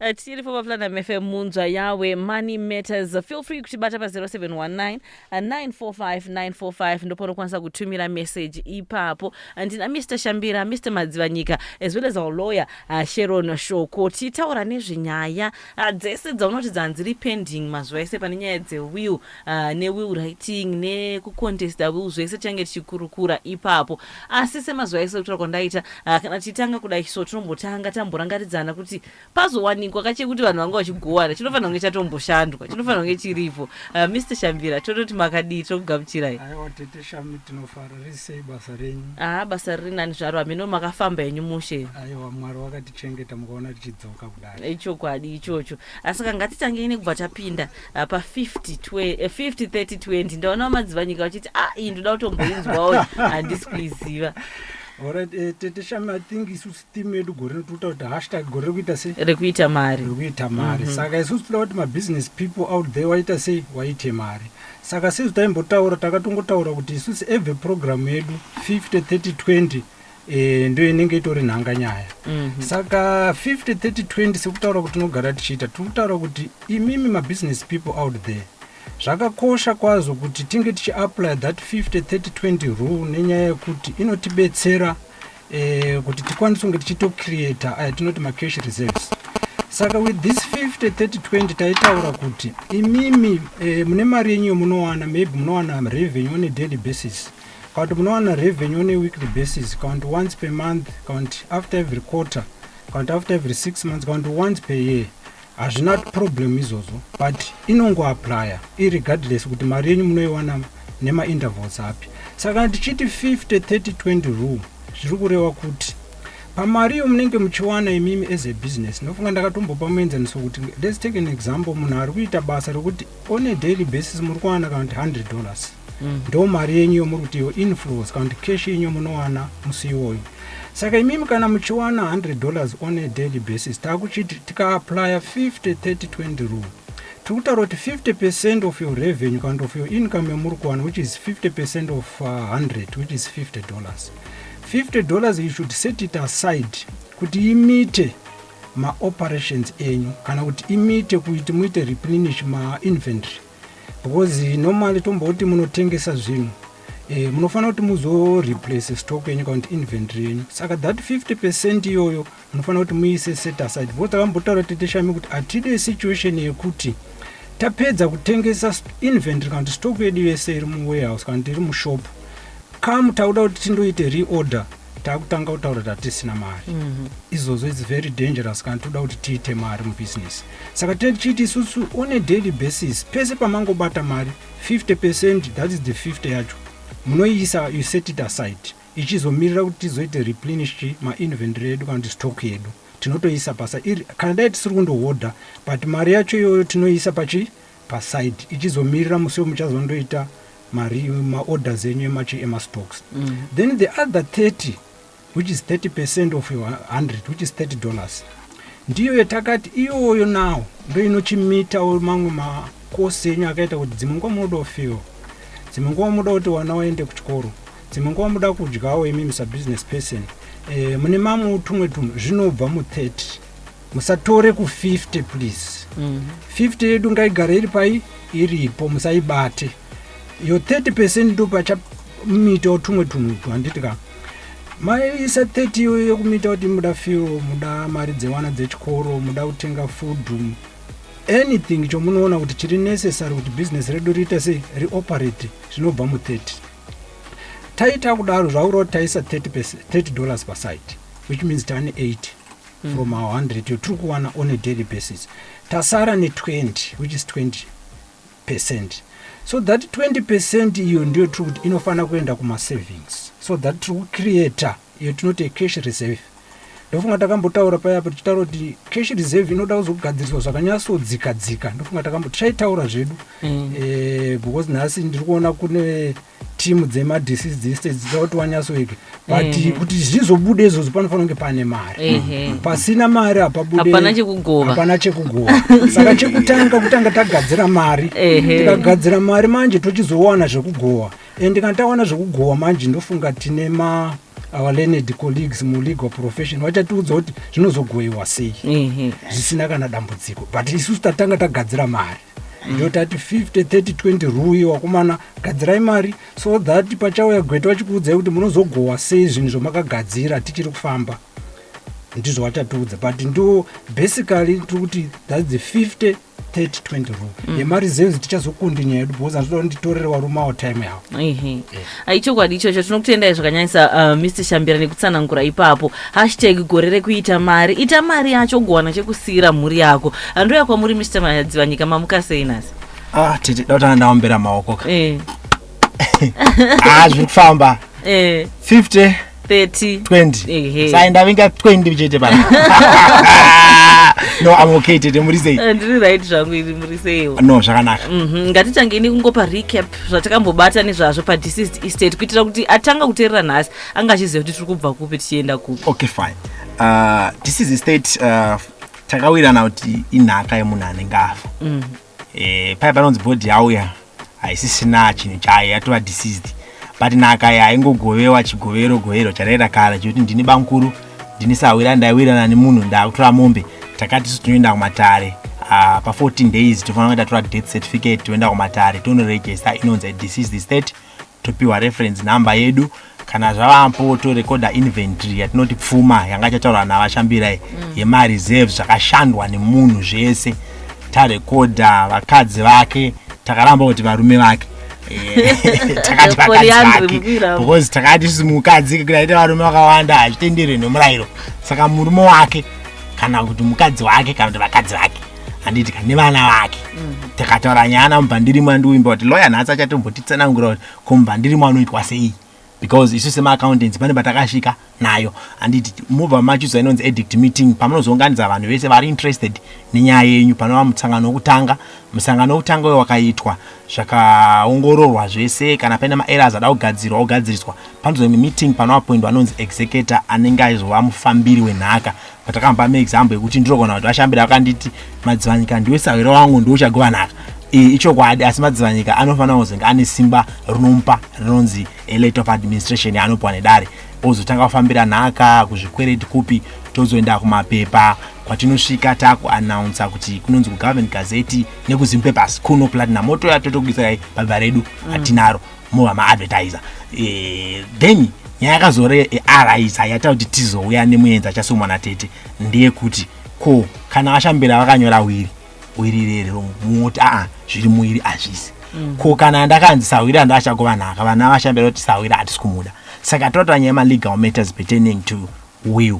Uh, tiri for vaplanam fm munzwa yawe money matters feel free kutibata pa 0719 uh, 945 945 ndopanokwanisa kutumira message ipapo ndina mr shambira mr madzivanyika as well as our lawyer uh, sharon shoko tichitaura nezvenyaya uh, dzese dzaunoti dzanzi repending mazuva ese pane nyaya dzewill uh, newill writing nekucontesta will zvese tiange tichikurukura ipapo asi semazuva ese kutaura kwandaita uh, kana tichitanga kudai so tinombotanga tamborangaridzana kuti pazowanikwa kachekuti vanhu vanga vachigovana chinofanira kunge chatomboshandwa chinofanira kunge chiripo uh, ah, mr shambira tototi makadii tokugamuchirai aiwa tete shami tinofara risei basa renyu aa ah, basa riri nani zvaro hameno makafamba henyu mushe aiwa mwari wakatichengeta mukaona tichidzoka kudai ichokwadi ichocho asi ka ngatitangei nekubva tapinda Ah, pa 50 twe- eh, 50 30 20 ndaonawo madzivanyika vachiti a iyi ndoda kutomboinzwawo handisi kuiziva Alright, eh, tete shami i think isusu team yedu gore rino tiri kutaura kuti hashtag gore rekuita sei rekuita mari rekuita mari saka isusu tinoda kuti mabusiness people out there waita sei waite mari saka sezvo taimbotaura takatongotaura kuti isusu every program yedu 50 30 20 e, ndiyo inenge itori nhanga nyaya mm -hmm. saka 50 30 20 sekutaura kuti tinogara tichiita tiri kutaura kuti imimi mabusiness people out there zvakakosha kwazvo kuti tinge tichiapply that 50 30 20 rule nenyaya yekuti inotibetsera e, kuti tikwanise kunge tichitocreata uh, eh, tinoti macash reserves saka with this 50 30 20 taitaura kuti imimi e, mune mari yenyu yomunowana maybe munowana revenue on a daily basis Kana kuti munowana revenue on a weekly basis, kana kuti once per month, kana kuti after every quarter, kana kuti after every six months, kana kuti once per year. Hazvina problem izvozvo, but inongoaplya irregardless kuti mari yenyu munoiwana nemaintervals api. Saka kana tichiti 50 30 20 rule zviri kureva kuti pamari iyo munenge muchiwana imimi as a business ndofunga ndakatombopa muenzaniso kuti let's take an example munhu ari kuita basa rekuti on a daily basis muri kuwana kana kuti 100 dollars mm. ndo mari yenyu yomuri kuti yo influence kana kuti cash yenyu yomunowana musi iwoyo saka imimi kana muchiwana 100 dollars on a daily basis taakuchiti tikaaplya 50 30 20 rule tiri kutaura kuti 50 percent of your revenue kana kuti of your income yomuri kuwana which is 50 percent of uh, 100 which is 50 dollars 50 dollars you should set it aside kuti imite maoperations enyu kana kuti imite kuti muite replenish mainventory because normally tomboti munotengesa zvinhu eh, munofanira kuti muzoreplace stock yenyu kana kuti inventory yenyu saka that 50 percent iyoyo munofanira kuti muise set aside because takambotaura teteshami kuti hatide situation yekuti tapedza kutengesa inventory kana kuti stock yedu yese iri muwarehouse kana kuti iri mushop come takuda kuti tindoite reorder takutanga kutaura tatisina mari mm -hmm. izvozvo its very dangerous kana toda kuti tiite mari mubusiness Saka tinenge tichiiti isusu on a daily basis pese pamangobata mari 50 percent that is the 50 yacho munoiisa you set it aside ichizomirira kuti tizoite replenish chi mainventory yedu kana kuti stock yedu tinotoiisa pasa iri kana dai tisiri kundohodha but mari yacho iyoyo tinoiisa pachi paside ichizomirira musi wemuchazondoita mari maorders enyu emachi emastocks mm. then the other 30 which is 30 percent of your 100 which is 30 dollars ndiyo yatakati iyoyo nawo ndo inochimitawo mamwe makosi enyu akaita kuti dzimwe nguva munoda kufewa dzimwe nguva munoda kuti wana waende kuchikoro dzimwe nguva munoda kudyawo imi misa business person e, mune mamwe utumwe tumwe zvinobva mu30 musatore ku50 please mm -hmm. 50 yedu ngaigare iri pai iripo musaibate yo 30 percent ndopachamuitawo tumwe tunhu twa handiti ka maisa 30 iyoyo yekumuita kuti muda firo muda mari dzevana dzechikoro muda kutenga food anything chomunoona kuti chiri necessary kuti business redu riita sei rioperate zvinobva mu 30 taita kudaro zvauro taisa 30 dollars pasite which means tane 80 mm. from our 100 yotiri kuwana on a daily basis tasara ne 20 which is 20 percent so that 20 percent iyo ndiyo tiri kuti inofanira kuenda kumasavings so that tiri kucreata iyo tinoti acash reserve ndofunga takambotaura paya apo tichitaura kuti cash reserve inoda kuzogadziriswa zvakanyatsodzika dzika ndofunga takambo tichaitaura zvedu mm. e, because nhasi ndiri kuona kune team dzema deceased estate dzitoti wanyasoweke but mm. kuti zvizobude izvozvo panofanira kunge pane mari mm -hmm. pasina mari hapabudehapana chekugova chekugova saka chekutanga kutanga tagadzira mari tikagadzira mm -hmm. mari manje tochizowana zvekugova and kana tawana zvekugova manje ndofunga tine ma our learned colleagues mulegal profession vachatiudza kuti zvinozogoiwa sei mm -hmm. zvisina kana dambudziko but isusu tatanga tagadzira mari ndotati 50 30 20 rui wakomana gadzirai mari so that pachauya gweta vachikuudzai kuti munozogohwa sei zvinhu zvamakagadzira tichiri kufamba ndizvo vachatiudza but ndo basically tiri kuti thats the 50 30 20 ruu mm. yemari zenzi tichazokundinyaedu because anditoda kuti nditorere varume avo time yavo ichokwadi ichocho tinokutendai zvakanyanyisa uh, mr shambira nekutsanangura ipapo hashtag gore rekuita mari ita mari yacho ugowana chekusiira mhuri yako handouya kwamuri mr madzivanyika mamuka sei nhasi ah, tete dautana ndaombera maoko ka eh. ah, zviri kufamba eh. 50 30 20 ehe sai ndavinga 20 chete pano no i'm okay tete muri sei Eh, ndiri right zvangu iri muri seiwo no zvakanaka Mhm, ngatitange ini kungopa recap zvatakambobata nezvazvo padeceased estate kuitira kuti atanga kuteerera nhasi anga achiziva kuti tiri kubva kupi tichienda kupi okay fine uh, this is a state uh, takawirirana kuti inhaka yemunhu anenge afa eh, paya panonzi bhodhi yauya haisisina chinhu chayo yatova deceased but nhaka ya ingogovewa chigovero govero charaira kare chekuti ndini bamukuru ndini sahwira ndaiwirana nemunhu ndakutora mombe takati su tinoenda kumatare ah, pa 14 days tofanira kuita tora death certificate toenda kumatare tonoregesta inonzi deceased state topiwa reference number yedu kana zvavapo torekoda inventory yatinoti pfuma yanga chataura navashambirai mm. yemareserve zvakashandwa nemunhu zvese tarekoda vakadzi vake takaramba kuti varume vake eh, takati vakadzi vake because takati isusu mukadzi kuti aite varume vakawanda hazvitenderwe nemurayiro saka murume wake kana kuti mukadzi wake kana kuti vakadzi vake handiitika nevana vake mm. takataura nyaya namubhandirimo andiuimba kuti loya nhasi achatombotitsanangura kuti ko mubhandirimo anoitwa sei because isu semaaccountancy pane patakasvika nayo handiti mobva machuza inonzi edict meeting pamunozounganidza vanhu vese vari interested nenyaya yenyu panova musangano wokutanga musangano wokutanga uyo wakaitwa zvakaongororwa zvese kana paine maerors ada kugadzirwa ogadziriswa panozonge meeting panoapoindwa anonzi executor anenge aizova mufambiri wenhaka patakamba meexample yekuti ndinogona kuti vashambira vakanditi madzivanyika ndiwe sahwira wangu ndiwe uchagovanaka iyi ichokwadi asi madzivanyika anofanira kuzenge ane simba rinomupa rinonzi elate of administration yaanopiwa nedare ozotanga kufambira nhaka kuzvikwereti kupi tozoenda kumapepa kwatinosvika takuannounsa kuti kunonzi kugovernment gazeti nekuzim papers kuno platinum motoya totokudisai pabva redu hatinaro mm. mova maadvertiser eh, then nyaya yakazore araiza yata kuti tizouya nemuenzi achasumwa natete ndeyekuti ko kana vashambira vakanyora wiri wiri rero moti aa zviri muwiri hazvisi mm. ko kana ndakanzi sahwiri ando achakuva nhaka vana vashambira kuti sahwiri hatisi kumuda saka totanyaya malegal matters pertaining to will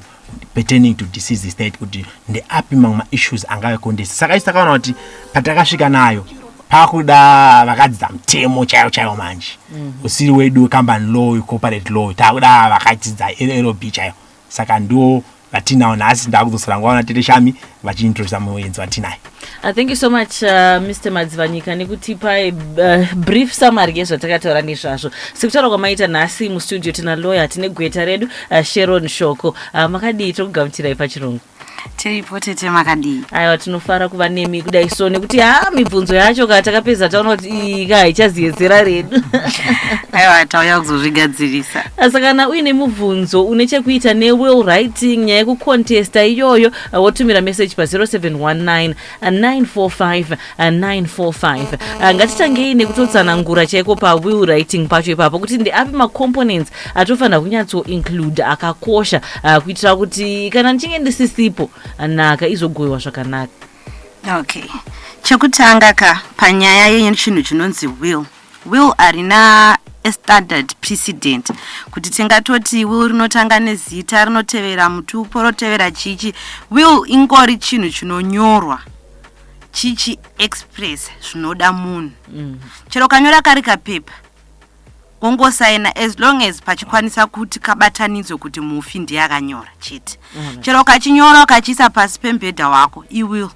pertaining to disease state kuti ndeapi mamwe maissues angave kondesi saka isi takaona kuti patakasvika nayo pakuda vakadzidza mutemo chaiwo chaiwo manje mhm. usiri wedu wecompany law wecorporate law takuda vakadzidza llb chaiwo saka ndiwo vatinawo nhasi ndakudzosera nguva na tete shami vachiintrodusa muenzi vatinaye uh, thank you so much uh, mr madzivanyika nekutipa uh, brief summary yezvatakataura nezvazvo sekutaura kwamaita nhasi mustudio tina lawyer tine gweta redu uh, sharon shoko uh, makadii tiri kugamuchirai pachirungu tiripo tete makadii aiwa tinofara kuva nemi kudai so nekuti ha mibvunzo yacho ka takapedza taona kuti iyi ka haichaziyedzera redu aiwa tauya kuzozvigadzirisa saka kana uine mubvunzo une chekuita newell writing nyaya yekucontesta iyoyo Uh, wotumira message pa 0719 945 945 uh, ngatitangei nekutotsanangura chaiko pawill writing pacho ipapo kuti ndeapi macomponents atofanira kunyatsoinclude akakosha uh, kuitira kuti kana ndichinge ndisisipo uh, nhaka izogoiwa zvakanaka okay chekutanga ka panyaya yechinhu chinonzi will will harina a standard precedent kuti tingatoti will rinotanga nezita rinotevera mutupo rotevera chichi will ingori chinhu chinonyorwa chichi express zvinoda munhu mm. chero kanyora kari kapepa wongosaina as long as pachikwanisa kuti kabatanidzwe kuti mufi ndiye akanyora chete mm. chero ukachinyora ukachiisa pasi pembhedha wako iwill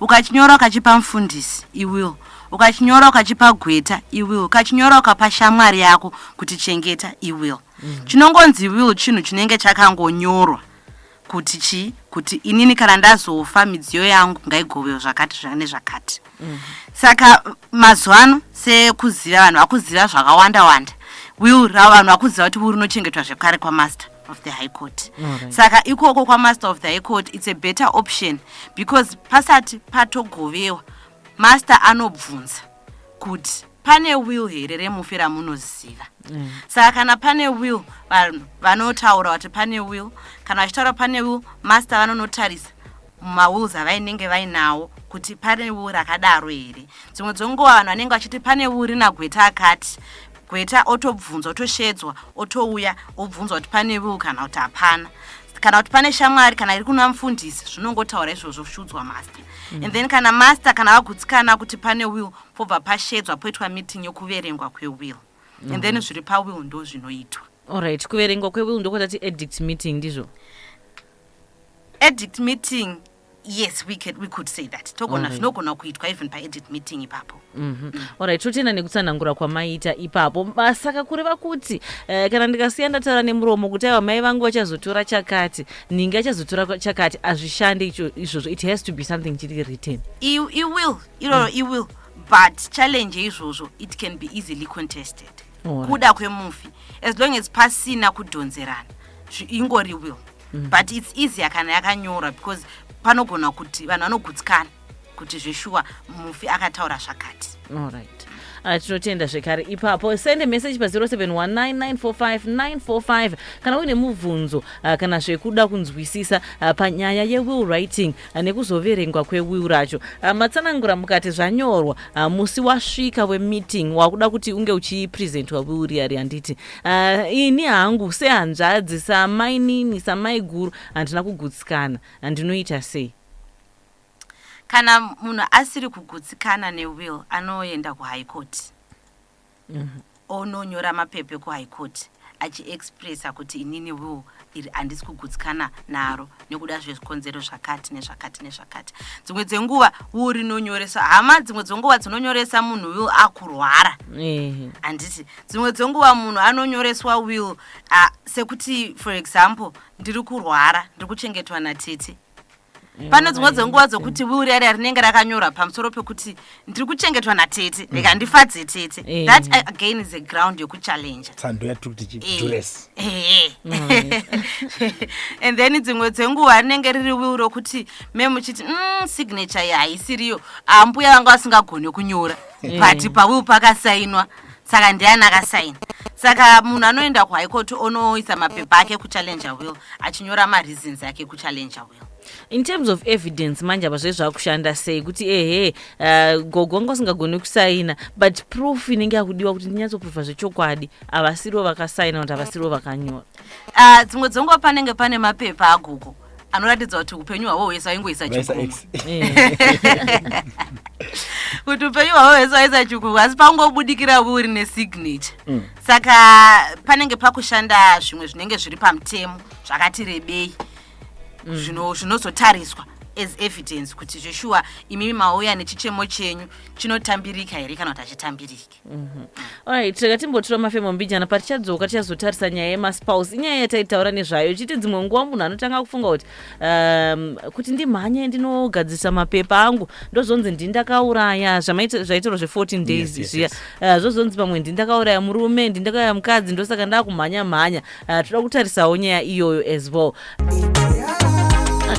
ukachinyora ukachipa mfundisi i will ukachinyora ukachipa gweta i will ukachinyora ukapa shamwari yako kuti chengeta i will mm. chinongonzi will chinhu chinenge chakangonyorwa kuti chii kuti inini kana ndazofa midziyo yangu ngaigovewo zvakati zvane zvakati mm. saka mazuva ano sekuziva vanhu vakuziva zvakawanda wanda will ravanhu vakuziva kuti will rinochengetwa zvekare kwamaster of the high court right. saka ikoko kwamaster of the high court its a better option because pasati patogovewa master anobvunza kuti pane will here remufi ramunoziva mm. saka kana pane will vanhu vanotaura kuti pane will kana vachitaura pane will master vanonotarisa mumawills avainenge vainawo kuti pane will rakadaro here dzimwe dzonguva vanhu vanenge vachiti pane will rina gweta akati gweta otobvunzwa otoshedzwa otouya obvunzwa kuti pane will kana kuti hapana kana kuti pane shamwari kana iri kuna mufundisi zvinongotaura izvozvo shudzwa master mm. and then kana master kana vagutsikana kuti pane will pobva pashedzwa poitwa meeting yokuverengwa kwewill mm. and then mm. zviri pawill ndo zvinoitwa allright kuverengwa kwewill ndokotati edict meeting ndizvo Edit meeting yes we, can, we could say that togona zvinogona kuitwa even paedit meeting ipapo mm -hmm. mm. orit totenda nekutsanangura kwamaita ipapo saka kureva kuti eh, kana ndikasiya ndataura nemuromo kuti aiwa mai vangu vachazotora chakati ninge achazotora chakati hazvishande izvozvo it has to be something chiri written you, you will iroro mm. you will but challenge yeizvozvo it can be easily contested right. kuda kwemufi as long as pasina kudhonzerana ingori will mm. but its easier kana yakanyorwa because panogona kuti vanhu vanogutsikana kuti zveshuwa mufi akataura zvakati allright ah, tinotenda zvekare ipapo sende message pa0719945945 kana uine mubvunzo ah, kana zvekuda kunzwisisa ah, panyaya yewill writing nekuzoverengwa kwewiu racho ah, matsanangura mukati zvanyorwa ah, musi wasvika wemeeting wakuda kuti unge uchipresentwa wiu riya ri handiti ah, ini hangu sehanzvadzi samainini samaiguru handina kugutsikana handinoita sei kana munhu asiri kugutsikana newill anoenda kuhigh court ononyora mapepa ekuHigh Court achi expresser kuti inini will iri handisi kugutsikana naro nekuda zvezvikonzero zvakati nezvakati nezvakati. Dzimwe dzenguva will rinonyoresa hama dzimwe dzenguva dzinonyoresa munhu will akurwara Ehe. handiti dzimwe dzenguva munhu anonyoreswa will uh, sekuti for example ndiri kurwara ndiri kuchengetwa natete pane dzimwe dzenguva dzokuti wiuri yari rinenge rakanyora pamusoro pekuti ndiri kuchengetwa natete mm. reka ndifadze tete eh. that again is a ground yokuchallenge tsando yatiri kuti chidures eh. eh. and then dzimwe dzenguva rinenge riri wiuri rokuti me muchiti mm, signature ye haisiriyo ambuya vanga vasingagoni kunyora but pawiu pakasainwa saka ndiani akasaina saka munhu anoenda kuhigh court onoisa mapepa ake kuchallenger will achinyora mareasons ake kuchallenger will in terms of evidence manje apa zve zvakushanda sei kuti ehe uh, gogo vanga usingagoni kusaina but proof inenge yakudiwa kuti ndinyatsoproofa zvechokwadi havasirivo vakasaina kuti havasirivo vakanyora ah, dzimwe uh, dzenguva panenge pane mapepa agogo anoratidza kuti upenyu hwavo hwese aingoisa chikumu kuti upenyu hwavo hwese waisa chikumu asi pangobudikira uri nesignature mm. saka panenge pakushanda zvimwe zvinenge zviri pamutemo zvakati rebei mm. zvinozotariswa as evidence kuti zveshuwa imimi mauya nechichemo chenyu chinotambirika here kana kuti hachitambiriki Alright, rega timbotura mafemo mbijana patichadzoka tichazotarisa nyaya yemaspouse inyaya yataitaura nezvayo ichiti dzimwe nguva munhu anotanga kufunga kuti um, kuti ndimhanye ndinogadzirisa mapepa angu ndozonzi ndini ndakauraya zvamaita- zvaitorwa zve14 days Yes, yes, zviya yes. Eh, zvozonzi pamwe ndini ndakauraya murume ndini ndakauraya mukadzi ndosaka ndakumhanya mhanya uh, toda kutarisawo nyaya iyoyo as well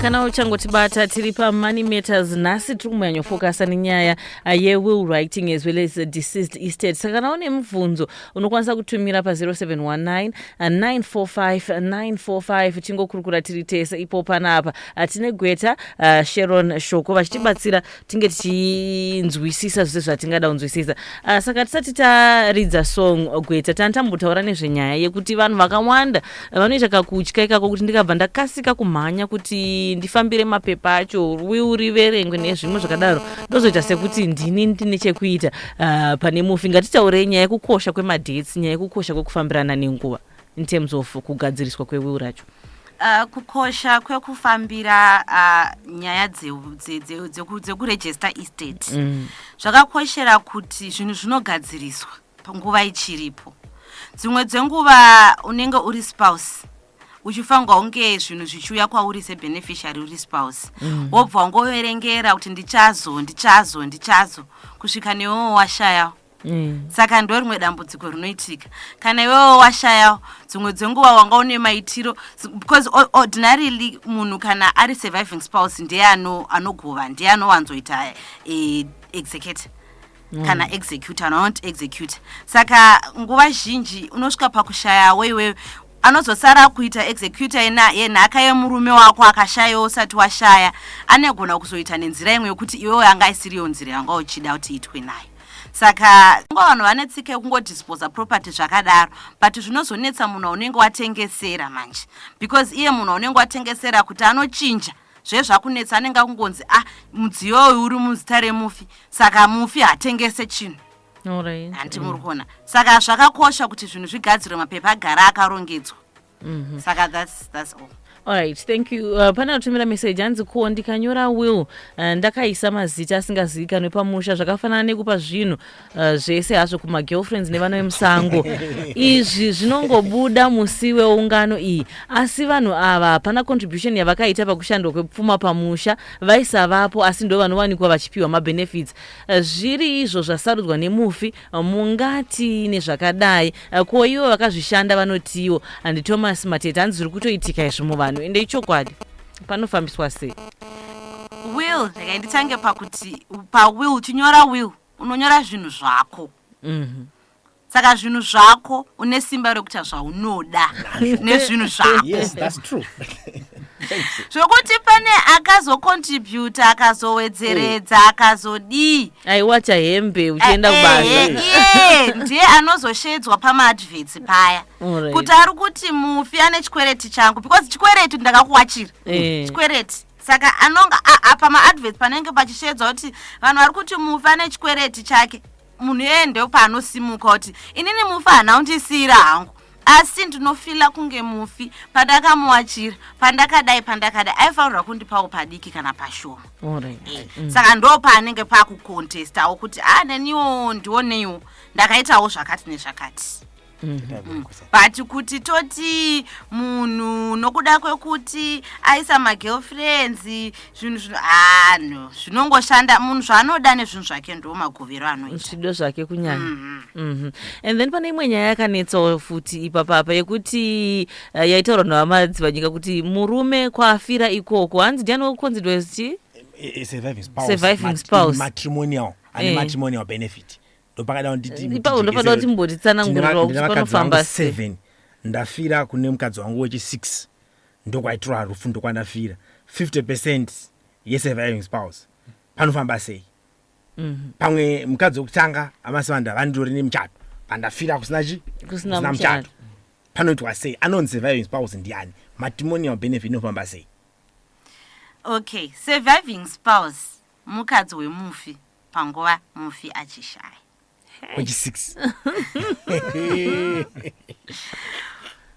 kana uchangotibata tiri pamoney matters nhasi tiri kumbonyanyofokasa nenyaya uh, yewill writing as well as uh, deceased estate saka kana une mubvunzo unokwanisa kutumira pa0719 945945 uh, tingokurukura tiri tese ipo panapa tine gweta sheron shoko vachitibatsira tinge tichinzwisisa zvese zvatingada kunzwisisa uh, saka tisati taridza song gweta tani tambotaura nezvenyaya yekuti vanhu vakawanda vanoita kakutya ikako kuti ndikabva ndakasika kumhanya kuti ndifambire mapepa acho riverengwe nezvimwe zvakadaro ndozoita sekuti ndini ndine chekuita uh, pane mufi ngatitaurei nyaya yekukosha kwemadhets nyaya yekukosha kwekufambirana nenguva in terms of kugadziriswa kwewill racho Uh, kukosha kwekufambira uh, nyaya dzekurejista estate mm. zvakakoshera mm. kuti zvinhu zvinogadziriswa panguva ichiripo dzimwe dzenguva unenge uri spouse uchifanirwa kunge zvinhu zvichiuya kwauri sebeneficiary uri spouse mm. wobva wangoverengera kuti ndichazo ndichazo ndichazo kusvika newewo washaya Mm. saka ndo rimwe dambudziko rinoitika kana iwewo washayawo dzimwe dzenguva wanga une maitiro because ordinarily munhu kana ari surviving spouse ndiye anogova ndiye anowanzoita eh, execute mm. kana execute anonot execute saka nguva zhinji unosvika pakushayawo iwewe anozosara kuita executa yenhaka yemurume wako akashayawo usati washaya anegona kuzoita nenzira imwe yokuti iwewe anga isiriyo nzira yanga uchida kuti itwe nayo saka ngo vanhu vane tsika yekungodisposa property zvakadaro but zvinozonetsa munhu waunenge watengesera manje because iye munhu waunenge watengesera kuti anochinja zvezvakunetsa anenge akungonzi ah mudziyo uyu uri muzita remufi saka mufi hatengese chinhu handi muri kuona saka zvakakosha kuti zvinhu zvigadzirwe mapepa agara akarongedzwa mm -hmm. saka that's, that's all Alright, thank you. Uh, pane atumira message hanzi ko ndikanyora will uh, ndakaisa mazita asingazivikanwe pamusha zvakafanana nekupa zvinhu uh, zvese hazvo kumagirlfriends nevana vemusango izvi zvinongobuda musi weungano iyi asi vanhu ava hapana contribution yavakaita pakushandwa kwepfuma pamusha vaisavapo asi ndo vanowanikwa vachipiwa mabenefits uh, zviri izvo zvasarudzwa nemufi mungati nezvakadai ko ivo vakazvishanda vanotiwo and thomas matete hanzi zviri kutoitika izvi muvanhu ende ichokwadi panofambiswa sei will regai nditange pakuti pawill chinyora will unonyora zvinhu zvako mhm. saka zvinhu zvako une simba rekuita zvaunoda nezvinhu zvako zvokuti pane akazocontributa akazowedzeredza akazodii aiwacha hembe uchienda kubasa Eh, iye ndiye anozoshedzwa pamaadverts paya Alright. kuti ari kuti mufi ane chikwereti changu because chikwereti ndakakuwachira Eh. chikwereti saka anonga a- a- pamaadverts panenge pachishedzwa kuti vanhu vari kuti mufi ane chikwereti chake munhu iyeye ndepaanosimuka kuti inini mufi hana undisiyira hangu asi ndinofila kunge mufi pandakamuwachira pandakadai pandakadai aifanirwa kundipawo padiki kana pashoma right. Eh, mm. saka ndo paanenge pakukontestawo kuti a ah, neniwo ndioneiwo ndakaitawo zvakati nezvakati mm -hmm. mm. but kuti toti munhu nokuda kwekuti aisa magirlfriends zvinhu zvino ah no zvinongoshanda munhu zvaanoda nezvinhu zvake ndo magovero anoita zvido zvake kunyanya mm -hmm. and then pane imwe nyaya yakanetsawo futi ipapapa yekuti uh, yaitaurwa navamadzidzi vanyika kuti murume kwaafira ikoko hanzi ndiani wekukonzidwa ziti surviving spouse matrimonial ane eh. matrimonial benefit ndopakada nditiipapo ndopakada kuti mbotitsanangurira kuti panofamba seven ndafira kune mukadzi wangu wechi six ndokwaitirwa rufu ndokwandafira 50 percent yesurviving spouse panofamba sei mhm. pamwe mukadzi wekutanga amasivanda vandori nemuchato pandafira kusina chi kusina muchato panoitwa sei anonzi surviving spouse ndiani matrimonial benefit inofamba sei okay surviving spouse mukadzi wemufi panguva mufi achishaya wechisix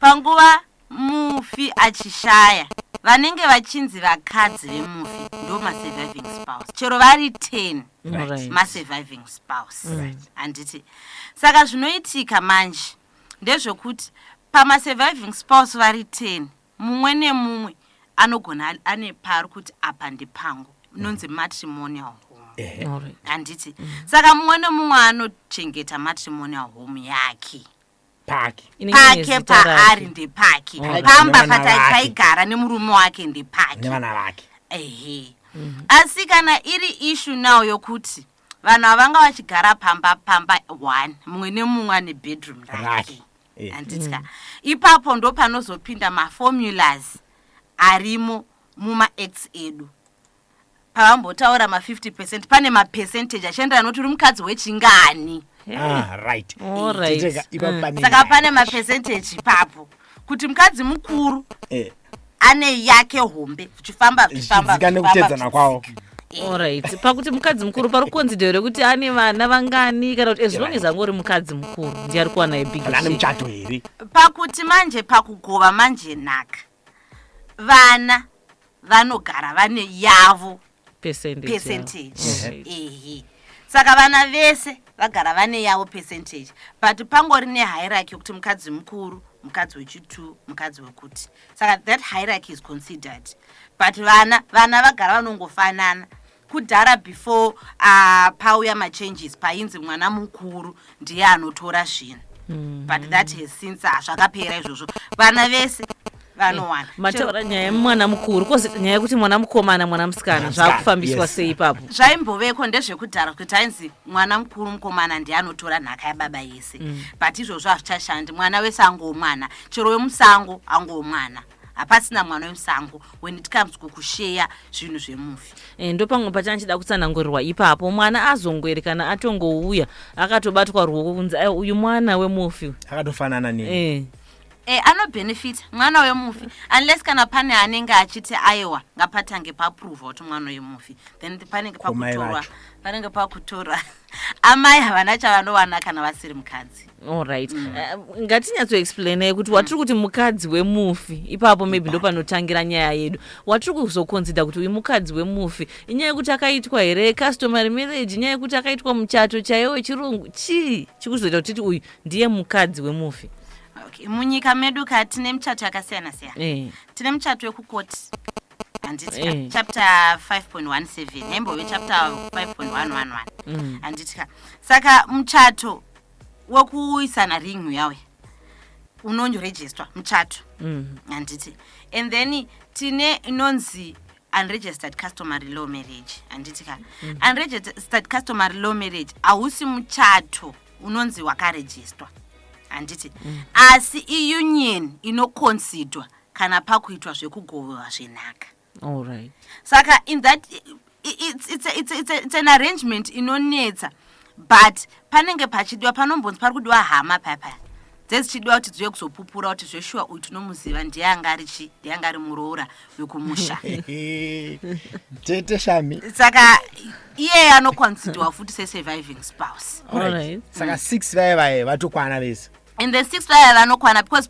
panguva mufi achishaya vanenge vachinzi vakadzi vemufi ndo masurviving spouse chero vari 10 Right. masurviving spouse handiti saka zvinoitika manje ndezvekuti pamasurviving spouse vari 10 Mumwe nemumwe anogona ane paari kuti apa ndepangu inonzi matrimonial home handiti saka mumwe nemumwe anochengeta matrimonial home yake pake pake paari ndepake pamba pataigara nemurume wake ndepake nevana vake ehe mhm. asi kana iri ishu now yokuti vanhu havanga vachigara pamba pamba one mumwe nemumwe ane bedroom rake Eh. handitya ipapo ndo panozopinda maformulas arimo mumaacts edu pavambotaura ma50 percent pane mapercentage achienderana nokuti uri mukadzi wechingani Ah, right. All right. Tete ka- ipapo pane saka nyaya. pane mapercentage ipapo kuti mukadzi mukuru Eh. ane yake hombe zvichifamba zvichifambaika nekutedzana kwawo orit pakuti mukadzi mukuru pari kuonzi dero rekuti ane vana vangani kana kuti as long as angori mukadzi mukuru ndiye ari kuwana yebigane muchato here pakuti manje pakugova manje nhaka vana vanogara vane yavo percentage, percentage. Yeah. Right. Ehe. saka vana vese vagara vane yavo percentage but pangori nehierarchy yokuti mukadzi mukuru mukadzi wechitu mukadzi wekuti saka that hierarchy is considered but vana vana vagara vanongofanana kudhara before uh, pauya machanges painzi mwana mukuru ndiye anotora zvinhu mm. but that has since hazvakapera izvozvo vana vese vanowana eh, mataura nyaya yemwana mukuru kozi nyaya yekuti mwana mukomana mwana musikana zvaakufambiswa sei ipapo zvaimboveko ndezvekudhara kuti ainzi mwana mukuru mukomana ndiye anotora nhaka yababa yese mm. but izvozvo hazvichashandi mwana wese angomwana chero wemusango angomwana hapasina mwana wemusango when it comes kukusheya zvinhu zvemufi e, eh, ndopamwe pachana chida kutsanangurirwa ipapo mwana azongweri kana atongouya akatobatwa ruoko kunzi eh, uyu mwana wemufi akatofanana ne e. E, anobenefita mwana wemufi unless kana pane anenge achiti aiwa ngapatange papruvha kuti mwana wemufi then panenge pakutorwa panenge pakutora amai havana chavanowana kana vasiri mukadzi allright mm. uh, ngatinyatsoexplainai kuti watiri kuti mukadzi wemufi ipapo maybe ndo panotangira nyaya yedu watiri kuzokonzida kuti uyu mukadzi wemufi inyaya yekuti akaitwa here customary marriage inyaya yekuti akaitwa muchato chaiyo wechirungu chii chikuzoita kutiti uyu ndiye mukadzi wemufi okay. munyika medu ka tine michato yakasiyana siyana eh. tine muchato wekukoti handiti eh. chapter 5.17 haimbove chapter 5.111 mm. handiti ka saka muchato wekuisana ring uyauya unonyorejistwa muchato mm. handiti and then tine inonzi unregistered customary law marriage handiti ka mm. unregistered customary law marriage hausi muchato unonzi wakarejistwa handiti mm. asi iunion inoconsidwa kana pakuitwa zvekugoverwa zvenhaka right. saka in that it's, it's, it's, it's, it's an arrangement inonetsa but panenge pachidiwa panombonzi pari kudiwa hama paya paya dzezichidiwa kuti dziuye kuzopupura kuti zveshuwa uyu tinomuziva ndiye anga ari chi ndiye anga ari muroora wekumusha tete shami saka iye anokonsidiwa futi sesurviving spouse right. saka six vaye vaye vatokwana vese and then six vaya vanokwana because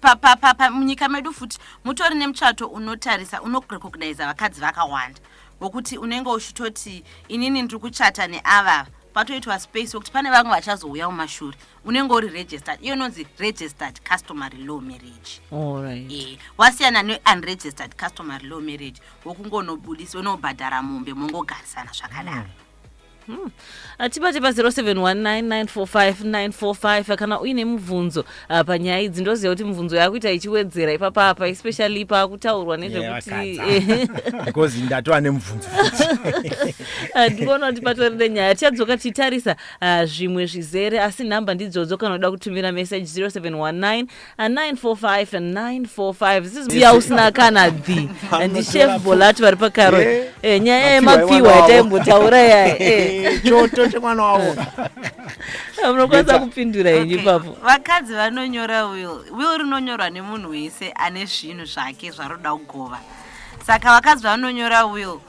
munyika medu futi mutori nemuchato unotarisa unorecogniza vakadzi vakawanda vokuti unenge uchitoti inini ndiri kuchata neavava patoitwa space wekuti pane vamwe vachazouya mumashure unenge uri registered iyo inonzi registered customary law marriage right. e, eh, wasiyana neunregistered customary law marriage wokungonobudisa unobhadhara mombe mongogarisana zvakanaka mm. Hmm. atibate pa 0719945945 kana uine mubvunzo ah, panyaya idzi ndoziva kuti mubvunzo yakuita ichiwedzera ipapapa especially pakutaurwa nezvekutibecause ndatova nemubvunzo ah, ndikuona kuti patori nenyaya tichadzoka tichitarisa ah, zvimwe zvizere asi nhamba ndidzodzo kana uda kutumira message 0719 siya usina kana dhi and chef bolatu vari pakaro eh, eh, nyaya yemapfiwa yataimbotaura yachoto eh. chemwana wavo munokwanisa kupindura henyu ipapo vakadzi vanonyora will will rinonyorwa nemunhu wese ane zvinhu zvake zvaroda kugova saka vakadzi vanonyora will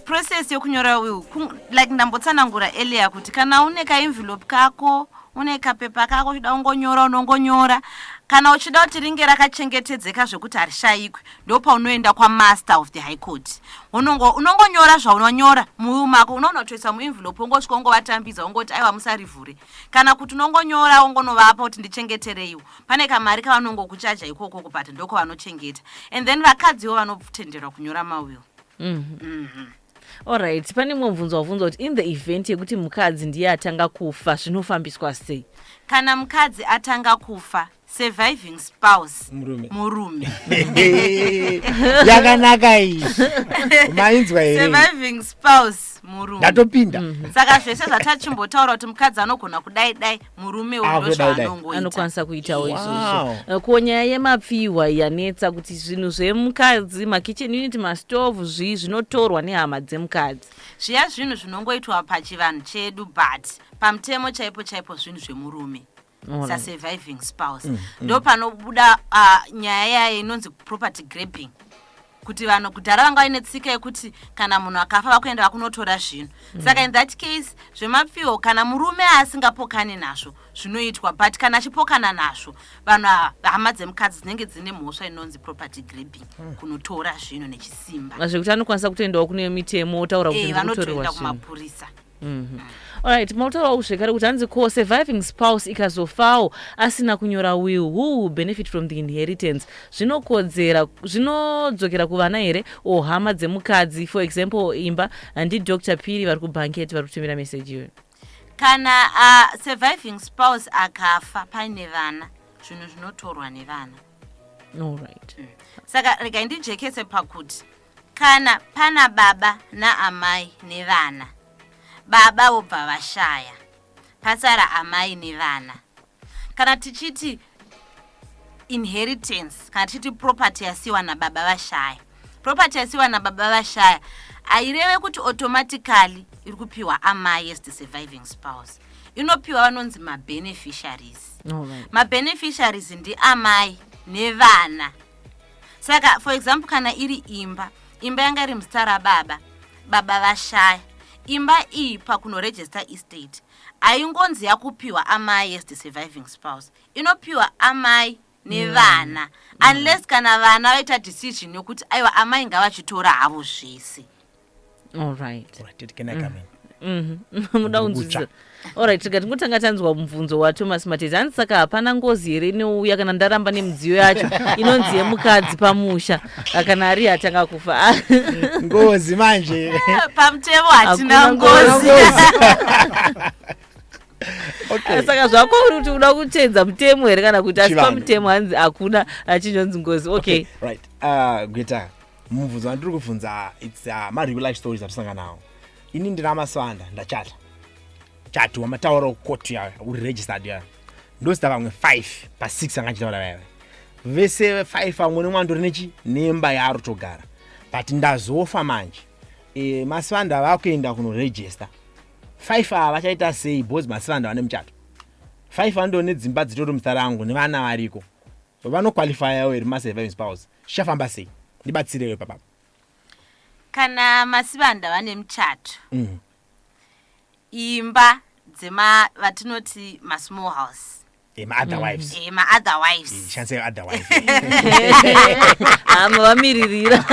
process yokunyora will like ndambotsanangura earlier kuti kana une kaenvelope kako une kapepa kako uchida ungonyora unongonyora kana uchida kuti ringe rakachengetedzeka zvekuti harishayikwi ndopaunoenda kwamaster of the high court unongonyora zvaunonyora muwiu mako unoona kutoisa muenvelope ongosvika ongovatambidza ongoti aiwa musarivhure kana kuti unongonyora ongonovapa kuti ndichengetereiwo pane kamari kavanongokuchaja ikokoko but ndoko vanochengeta and then vakadziwo vanotenderwa kunyora mawill Alright, pane mumwe mubvunzo wabvunzwa kuti in the event yekuti mukadzi ndiye atanga kufa zvinofambiswa sei? kana mukadzi atanga kufa surviving spouse Murume. murume yakanaka iyi mainzwa here surviving spouse murume ndatopinda saka zvese zvatachimbotaura kuti mukadzi anogona kudai dai murume ah, uyu ndozvaanongoita anokwanisa kuitawo izvozvo eh, ko nyaya yemapfihwa yanetsa kuti zvinhu zvemukadzi makitchen unit mastove zvii zvinotorwa nehama dzemukadzi zviya zvinhu zvinongoitwa pachivanhu chedu but pamutemo chaipo chaipo zvinhu zvemurume sasurviving spouse mm, mm. ndopanobuda ah, nyaya yaye inonzi property grabbing kuti vanhu kudhara vanga vaine tsika yekuti kana munhu akafa vakuenda vakunotora zvinhu mm. saka in that case zvemapfiwo kana murume asingapokani nazvo zvinoitwa but kana achipokana nazvo vanhu hama dzemukadzi dzinenge dzine mhosva inonzi property grabing mm. kunotora zvinhu nechisimba zvekuti anokwanisa kutoendawo kune mitemo otaura kuti eh, vanotoenda kumapurisa Mhm. Alright, mautorawo zvekare kuti hanzi ko surviving spouse ikazofawo asina kunyora will, who will benefit from the inheritance? Zvinokodzera, zvinodzokera kuvana here or hama dzemukadzi, for example imba, handi Dr. Piri vari kubanket vari kutumira message iyoyo. kana uh, surviving spouse akafa paine vana zvinhu zvinotorwa nevana Alright. saka regai ndijekese pakuti Kana pana baba naamai nevana, baba vobva vashaya, pasara amai nevana. Kana tichiti inheritance, kana tichiti property yasiwa nababa vashaya, property yasiwa nababa vashaya haireve kuti automatically iri kupiwa amai as the surviving spouse inopiwa vanonzi mabeneficiaries mabeneficiaries ndiamai nevana saka for example kana iri imba imba yanga iri muzita rababa baba vashaya imba iyi pakunoregister estate haingonzi yakupiwa amai as the surviving spouse inopiwa amai nevana mm. mm. unless kana vana vaita decision yokuti aiwa amai ngavachitora havo zvese Alright. Alright, Teddy, can I come in? Mhm. muda kunzwisisa orit rega tingotanga tanzwa mubvunzo wathomas matete hanzi saka hapana ngozi here inouya kana ndaramba nemidziyo yacho inonzi yemukadzi pamusha Ah, kana ari atanga kufa Ah, ngozi manje pamutemo hatina hakuna ngozi okay saka zvako uri kuti uda kuteedza mutemo here kana kuti asi Chivanhu. pamutemo hanzi hakuna achinzonzi ngozi okay right uh, gweta mubvunzo wandiri kubvunza its uh, mareal life stories atisanga nawo ini ndina maswanda ndachata chati wamataura ukoti yayo uri registered yayo ndosita vamwe five pasix anga achitaura vaive vese five vamwe nemwe andori nechi nemba yaro togara but ndazofa manje e, maswanda vakuenda kunoregister five ava vachaita sei bcause maswanda vane muchato five vando nedzimba dzitori muzita rangu nevana variko vanoqualifyawo here masurviving spouse zvichafamba sei ndibatsirewo ipapapa kana masibanda vane muchato mm. imba dzema vatinoti masmall house emaother mm. wives emaother wives shanse other wives hama vamiririra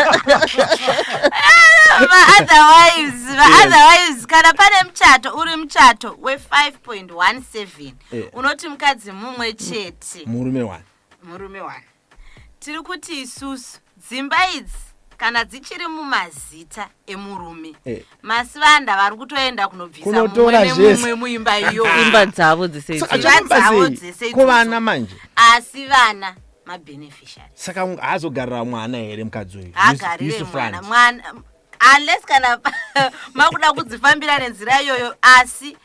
maother wives maother wives kana pane muchato uri muchato we 5.17 eh. unoti mukadzi mumwe chete murume wani murume wani tiri kuti isusu dzimba idzi kana dzichiri mumazita emurume eh. masivanda vari kutoenda kunobvisa mumwe nemumwe muimba iyoimba dzavo dzeseidzavo dzese kuvana manje asi vana mabeneficiary saka haazogarira mwana here mukadzi uyu haagarire mwana mwana unless kana makuda kudzifambira nenzira iyoyo asi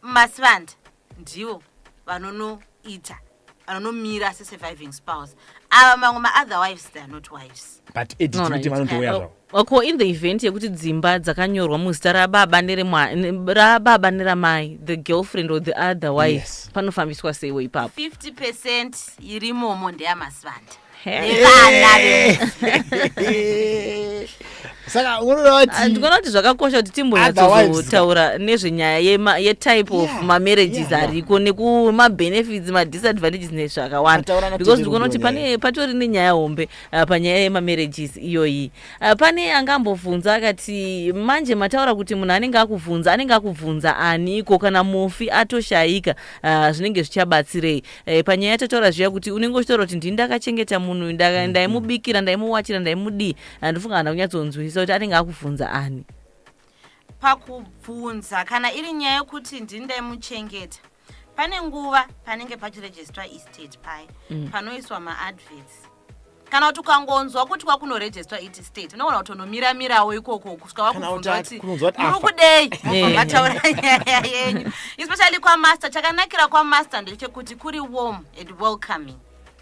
masivanda ndivo vanonoita anonomira sesurviving spouse ava mamwe maother wives they are not wives but editimiti vanotouya zvavo ko in the event yekuti dzimba dzakanyorwa muzita rababa nerababa neramai the girlfriend or the other wife yes. panofambiswa seiwo ipapo 50 percent irimomo ndeyamasivanda saka unoonandikuona ah, kuti zvakakosha kuti timbonyatsozotaura nezvenyaya yetype of mamarriages ariko nekumabenefits madisadvantages nezvakawanda because ndikuona kuti pane patori nenyaya hombe ah, panyaya yemamarriages iyoyi ah, pane anga ambobvunza akati manje mataura kuti munhu anenge akubvunza anenge akubvunza aniko kana mufi atoshayika zvinenge zvichabatsirei eh, panyaya yatataura zviya kuti unenge uchitaura kuti ndini ndakachengeta munhu uyu, ndaka- Mm, ndaimubikira ndaimuwachira ndaimudii handifunga kana kunyatsonzwisisa kuti anenge akubvunza ani pakubvunza kana iri nyaya yokuti ndini ndaimuchengeta pane nguva panenge pachirejistwa estate paye panoiswa maadverts kana kuti ukangonzwa kuti kwakunorejestwa iti state unogona kutonomira mirawo ikoko kusvika wakubvunza kuti muri kudei vataura nyaya yenyu especially kwamaster chakanakira kwamaster ndechekuti kuri warm and welcoming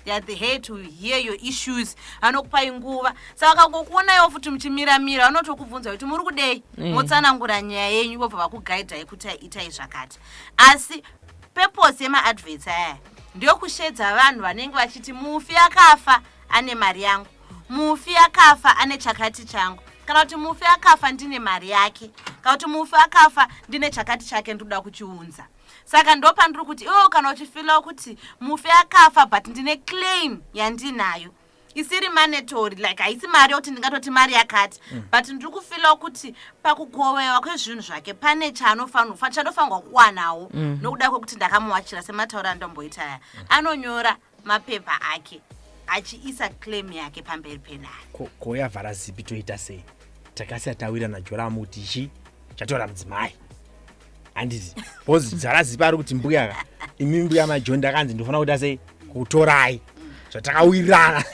theyare the head to hear your issues anokupai nguva saka kangokuonaiwo futi muchimira mira vanotokubvunza kuti muri kudei mm. motsanangura nyaya yenyu vobva vakugaidhai kuti itai zvakati asi purpose yemaadvets aya ndokushedza vanhu vanenge vachiti mufi akafa ane mari yangu mufi akafa ane chakati changu kana kuti mufi akafa ndine mari yake kana kuti mufi akafa ndine chakati chake ndikuda kuchiunza saka ndo pandiri kuti iwewo kana uchifilawo kuti mufi akafa but ndine claim yandinayo isiri manetori like haisi mari yokuti ndingatoti mari yakati mm. but ndiri kufilawo kuti pakugovewa kwezvinhu zvake pane chaanofanirwa chanofanirwa kuwanawo mm. nokuda kwekuti ndakamuwachira sematauro andomboita aya mm. anonyora mapepa ake achiisa claim yake pamberi penhare koyavhara zipi toita sei takasiya tawira najoramu kuti chi chatora mudzimai handiti bcause dzarazipa ari kuti mbuya ka imi mbuya majoni ndakanzi ndinofanira kuita sei kutorai zvatakawirirana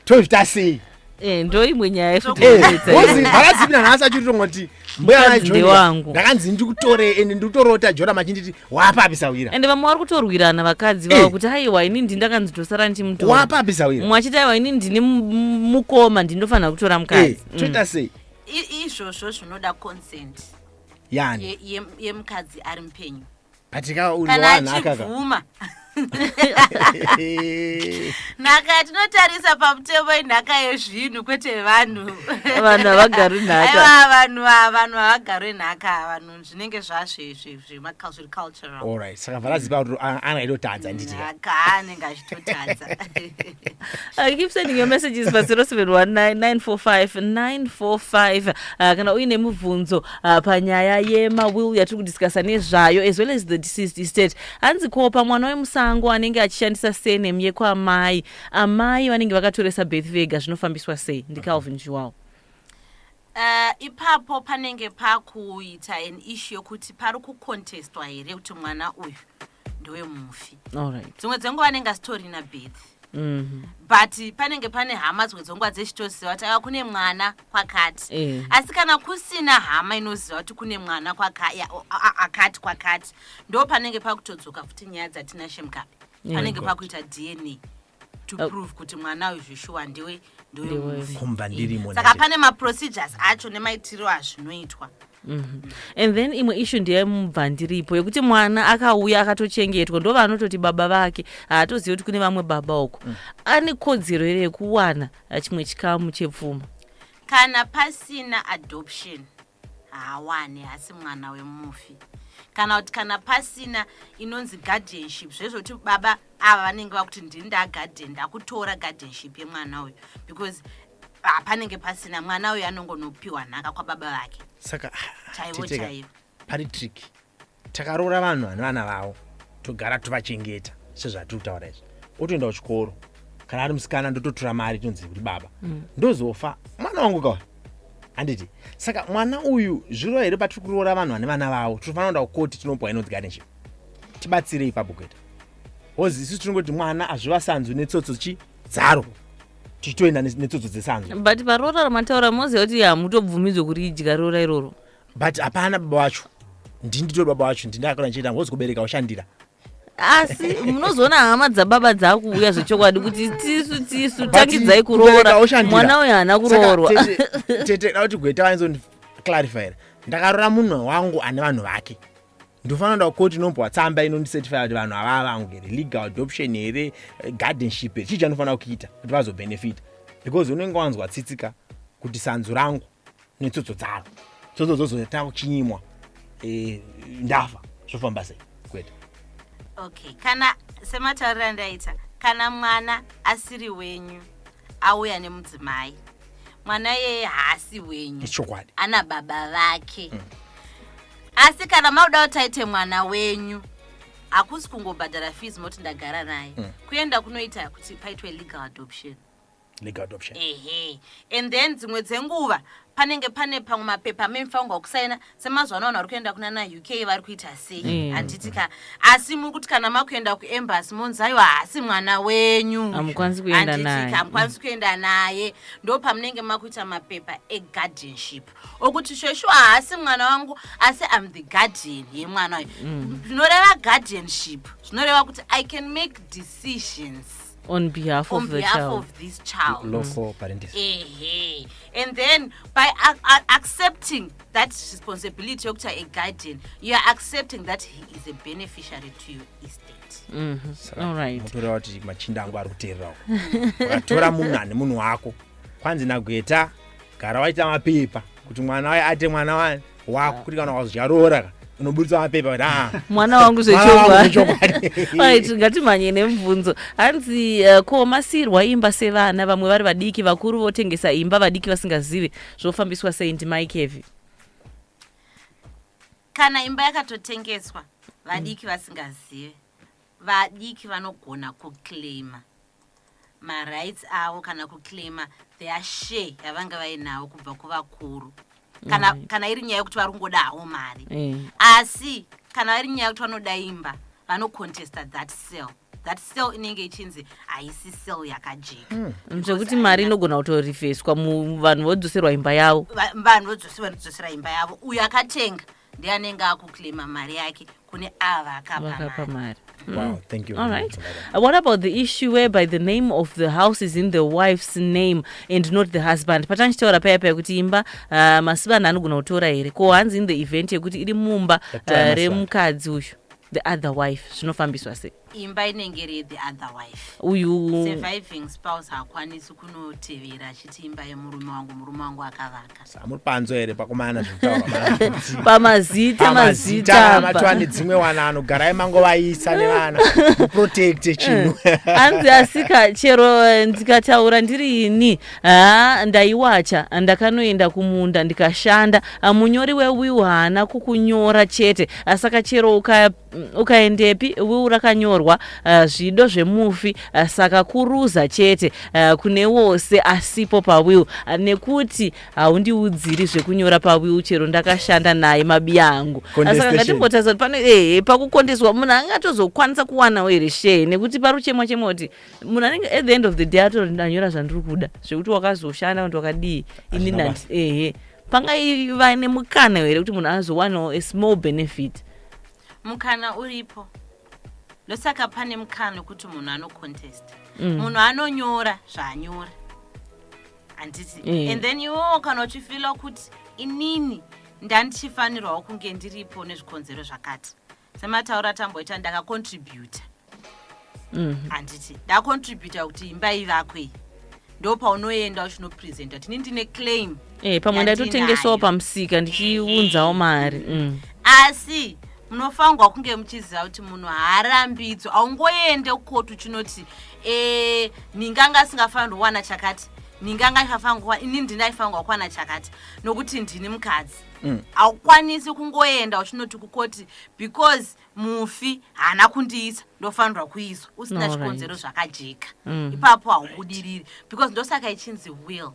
tozvita sei Eh, ndoimwe nyaya yefutivaraziina eh, nhasi achitotonga kuti mbuyawangu ndakanzi ndikutore ende ndikutorota jona machinditi wapapi sawira ende vamwe vari kutorwirana vakadzi vavo eh. kuti aiwa ini ndi ndakanzi ndosara ndichimutora wapapi sawira mwe achiti aiwa ini ndine mukoma ndindofanira kutora mukadzi mm. toita sei izvozvo zvinoda consent yani ye- ye- yemukadzi ari mupenyu katika kana unowana akaka achibvuma nhaka tinotarisa pamutemo inhaka yezvinhu kwete vanhu Vanhu havagari nhaka. Aiwa, vanhu ava- vanhu havagarwe nhaka vanhu zvinenge zvazve zve- zvemaka- agricultural alright saka varaziva kuti ana aitotadza handiti kaanenge achitotadza uh, keep sending your messages pa 0719945945 uh, kana uine mubvunzo uh, panyaya yemawill yatiri kudiscussa nezvayo as well as the deceased estate hanzi kopa mwana wemusango anenge achishandisa senem yekwaamai amai vanenge vakatoresa beth vega zvinofambiswa sei ndicalvin juwao Uh, ipapo panenge pakuita an issue yokuti pari kucontestwa here kuti mwana uyu ndowe mufi dzimwe dzenguva anenge asitorina birth mhm. but panenge pane hama dzimwe dzenguva dzechitoziva kuti ava kune mwana kwakati eh. asi kana kusina hama inoziva kuti kune mwana akati kwakati ndo panenge pakutodzoka futi nyaya dzatinashe mukapi panenge pakuita dna to oh. prove kuti mwana uyu zvishuwa ndiwe ndiwekumba ndirimo saka pane maprocedures acho nemaitiriro azvinoitwa mhm. and then imwe ishu ndeyemubva ndiripo yekuti mwana akauya akatochengetwa ndo vanototi baba vake haatozivi kuti kune vamwe baba uko mm. ane kodzero here yekuwana chimwe chikamu chepfuma kana pasina adoption haawane hasi mwana wemufi kana kuti kana pasina inonzi guardianship zvezvoti baba ava vanenge vakuti ndini ndaaguardian ndakutora guardianship yemwana uyu because ah, panenge pasina mwana uyu anongonopiwa nhaka kwababa vake saka chaivo chaivo pari trick takaroora vanhu vane vana vavo togara tovachengeta sezvatiri kutaura izvi otoenda kuchikoro kana ari musikana ndototora mari tonzi kuti baba mm. ndozofa mwana wangu kawa handiti saka mwana uyu zvirova here patiri kuroora vanhu vane vana vavo tinofanira kuenda kukoti tinopuwa inonzi ganeship tibatsire ipapo kuita hozi isu tinongoti mwana azvivasanzwi netsotso chi dzaro tichitoenda netsotso dzesanzwi but paroora ramataura moziva kuti hamutobvumidzwe kuri idya roora iroro but hapana baba wacho ndini nditori baba wacho ndini akana ndichiita ngozi kubereka ushandira asi munozoona hama dzababa dzakuuya zvechokwadi kuti tisu tisu tangidzai kuroora mwana uyo haana kuroorwa tete da kuti gweta vanizondiclarifyr ndakaroora munhu wangu ane vanhu vake ndofanira da koti inombwa tsamba inondicertifya kuti vanhu avaa vangu here legal adoption here gardenship here chii chanofanira kuita kuti vazobhenefita because unenge wanzwa tsitsika kuti sanzu rangu netsotso dzavo tsotso dzozoita kuchinyimwa eh, ndafa zvofamba sei kwete okay kana sematauriro andaita kana mwana asiri wenyu auya nemudzimai mwana yeye haasi wenyu chokwadi ana baba vake hmm. asi kana makuda kuti aite mwana wenyu hakusi kungobhadhara fees moti ndagara naye mm. kuenda kunoita kuti paitwe legal adoption legal adoption ehe and then dzimwe dzenguva panenge pane pamwe mapepa amemifanirwa kusaina semazuva ano vanhu vari kuenda kuna na uk vari kuita sei Mm. handiti ka asi muri kuti kana makuenda kuembassy monzi aiwa haasi mwana wenyu Hamukwanisi kuenda Handiti naye. ka, hamukwanisi kuenda naye ndo pamunenge makuita mapepa eguardianship okuti shoshu haasi mwana wangu asi am the guardian yemwana uyu zvinoreva guardianship zvinoreva kuti i can make decisions on behalf on of the behalf child of this child local mm. parentis ehe and then by accepting that responsibility yokuti a guardian you are accepting that he is a beneficiary to your estate mm -hmm. all right mutora kuti machinda angu ari kuteererawo ukatora munhu ane munhu wako kwanzi nagweta gara waita mapepa kuti mwana waye ate mwana wani wako kuti kana wazvaroora ka unoburitsa mapepa kuti ah, mwana wangu mwana wangu zvechokwadi zvechokwadi. Alright, ngatimhanye nemubvunzo hanzi uh, ko masirwa imba sevana vamwe vari vadiki vakuru votengesa imba vadiki vasingazive zvofambiswa sei ndimai kevi kana imba yakatotengeswa vadiki vasingazive Vadiki vanogona kuclaima marights avo kana kuclaima their share yavanga vainawo kubva kuvakuru kana, mm. kana iri nyaya yekuti vari kungodawo mari mm. asi kana vari nyaya yekuti vanoda imba vanocontesta that sell that sell inenge ichinzi haisi sell yakajeka mm. mm. zvekuti mari inogona kutorifeswa vanhu vodzoserwa imba yavo vanhu vodzosera imba yavo uyo akatenga ndiye anenge akuclaima mari yake kune ava akapa mari mm. Wow, thank you. All right. Uh, what about the issue whereby the name of the house is in the wife's name and not the husband? Patanchitaura paya paya kuti imba uh, masivana anogona kutora here ko hanzi in the event yekuti iri mumba uh, remukadzi uyu the other wife zvinofambiswa sei? imba inenge iri yethe other wife uyu surviving spouse haakwanisi kunotevera achiti imba yemurume wangu murume wangu akavaka samuri panzo here pakomana pamazita mazita matwa nedzimwe wana anogarai mangovaisa nevana protect chinhu eh, hanzi asika chero eh, ndikataura ndiri ini ha ndaiwacha ndakanoenda kumunda ndikashanda ah, munyori wewiu haana kukunyora chete asaka chero uka Mm, ukaendepi wiu rakanyorwa uh, zvido zvemufi uh, saka kuruza chete uh, kune wose asipo pawiu uh, nekuti haundiudziri uh, zvekunyora pawiu chero ndakashanda naye mabi angu uh, saka ngatimbotarisa kuti pano ehe eh, pakukondeswa munhu angatozokwanisa kuwanawo here shee nekuti paruchemwa chemwa kuti munhu anenge at the end of the day atori ndanyora zvandiri kuda zvekuti wakazoshanda kuti wakadii ini nandi ehe pangaiva nemukana here kuti munhu azowanawo a small benefit mukana uripo ndosaka pane mukana kuti munhu anocontest mm. munhu anonyora zvaanyora handiti eh. and then iwowo kana uchifila kuti inini ndandichifanirwawo kunge ndiripo nezvikonzero zvakati semataura tamboita ndakacontributa mhm. handiti ndacontributa kuti imba ivakwe iyi ndo paunoenda uchinopresenta tini ndine claim eh, pamwe ndaitotengesawo pamusika ndichiunzawo mari mm. asi munofanirwa kunge muchiziva kuti munhu haarambidzo aungoende kukotu chinoti e, ninganga asingafanirwa kuwana chakati ninganga ifafanirwa ini ndinaifanirwa kuwana chakati nokuti ndini mukadzi mm. haukwanisi kungoenda uchinoti kukoti because mufi haana kundiisa ndofanirwa kuiswa usina Alright. chikonzero zvakajeka Mm. ipapo haubudiriri because ndosaka ichinzi will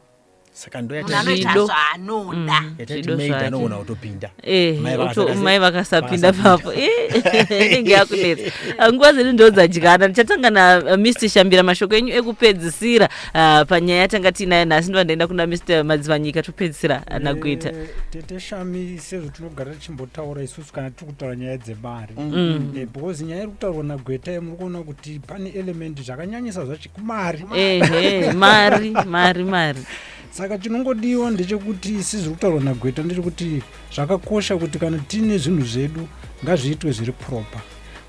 saka ndo munhu anoita Zvido. zvaanoda Mm. yatati Zvido maid zvake. anogona kutopinda Eh, Mai uto- vakasaka se- mai vakasapinda vakasapinda. papo Eh, inenge yakunetsa Ah, nguva ziri ndodzadyana ndichatanga na uh, mr shambira mashoko enyu ekupedzisira ah, panyaya yatanga tiinayo nhasi ndova ndaenda kuna mr madzivanyika topedzisira ah, nagweta Eh, tete shami sezvo tinogara tichimbotaura isu kana tiri kutaura nyaya dzemari mm. eh, because nyaya iri kutaurwa nagweta ye muri kuona kuti pane elementi zvakanyanyisa zvacho kumari mari mari mari saka chinongodiwa ndechekuti sizviri kutaurwa nagweta ndechekuti zvakakosha kuti kana tiine zvinhu zvedu ngazviitwe zviri proper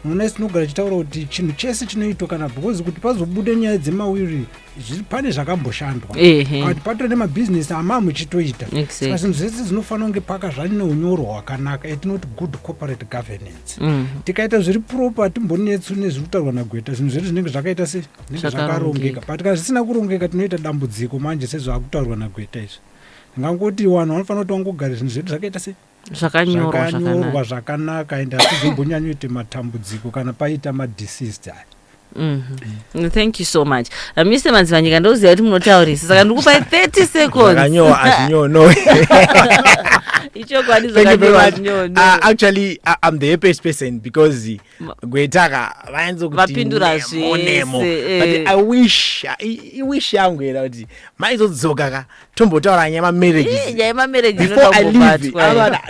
munoona isinogara chitaura kuti chinhu chese chinoitwa kana because kuti pazobude nyaya dzemawiri Zviri pane zvakamboshandwa Ehe. But pato nemabhizinesi amaa muchitoita Exactly. saka zvinhu zvese zvinofanira kunge paka zvane unyoro hwakanaka etinoti good corporate governance Mm. tikaita zviri proper hatimbonetsu nezviri kutaurwa nagweta zvinhu zvedu zvinenge zvakaita se zvinenge Zvakarongeka. zvakarongeka but kana zvisina kurongeka tinoita dambudziko manje sezvaakutaurwa nagweta izvi ndingangoti vanhu vanofanira kuti vangogara zvinhu zvedu zvakaita se zvakanyorwa zvakanaka and hatizombonyanyoita matambudziko kana paita madisist aya Mm -hmm. thank you so much uh, mr madzivanyika ndoziva kuti munotaurisa saka ndikupai 30 secondsnyono ichokwadi zvakanyoactually uh, i'm the happiest person because gwetaka vainzokuvapindura zvenemo eh. i wish i wish yangu era kuti maizodzoka ka tombotaura nyaya mamarriagesbefore i leave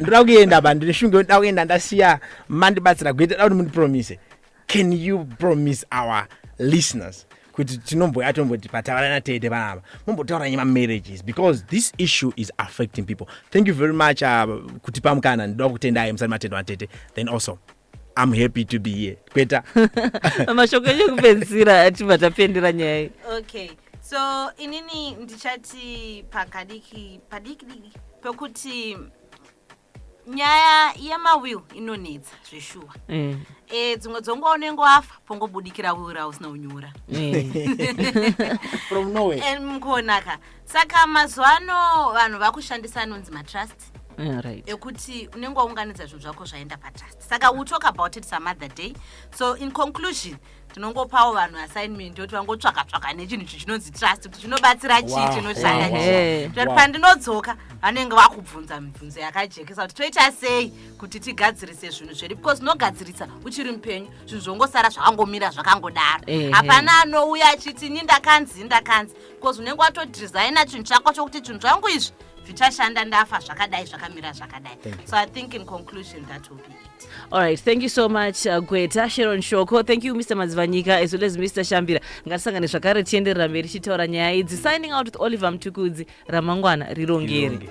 ndoda kuenda ba ndine shunge ndoda kuenda ndasiya mandibatsira gweta da kuti mundipromise can you promise our listeners kuti tinomboya tomboti pataura natete vanava mombotaura nyaya mamarriages because this issue is affecting people thank you very much uh, kutipa mukana ndoda kutendai musati matendwa natete then also I'm happy to be here. Kweta. Mashoko enyu kupedzisira achibva tapendera nyaya iyi. Okay. So inini ndichati pakadiki padiki diki pekuti nyaya yemawill inonetsa zveshuwa eh. eh, dzimwe dzonguva unenge wafa pongobudikira will rausina unyora eh. mkuonaka saka mazuva ano vanhu vakushandisa anonzi matrust Yeah, right. ekuti unenge waunganidza zvinhu zvako zvaenda patrust saka we'll talk about it some other day so in conclusion tinongopawo vanhu assignment yoti vangotsvaka tsvaka nechinhu ichi chinonzi trust kuti chinobatsira chii Wow, chinoshanda wow, chii wow, Kuitira kuti wow. pandinodzoka vanenge vakubvunza mibvunzo yakajekesa kuti toita sei kuti tigadzirise zvinhu zvedu because unogadzirisa uchiri mupenyu zvinhu zvongosara zvakangomira zvakangodaro Ehe. hapana anouya achiti ini ndakanzi ini ndakanzi because unenge watodhizaina chinhu chako chokuti chinhu changu izvi zvichashanda ndafa zvakadai zvakamira zvakadai so i think in conclusion that will be it all right thank you so much uh, gweta sharon shoko thank you mr madzivanyika as well as mr shambira ngatisangane zvakare tienderera mberi tichitaura nyaya idzi signing out with oliver mtukudzi ramangwana rirongeri Rirongeri.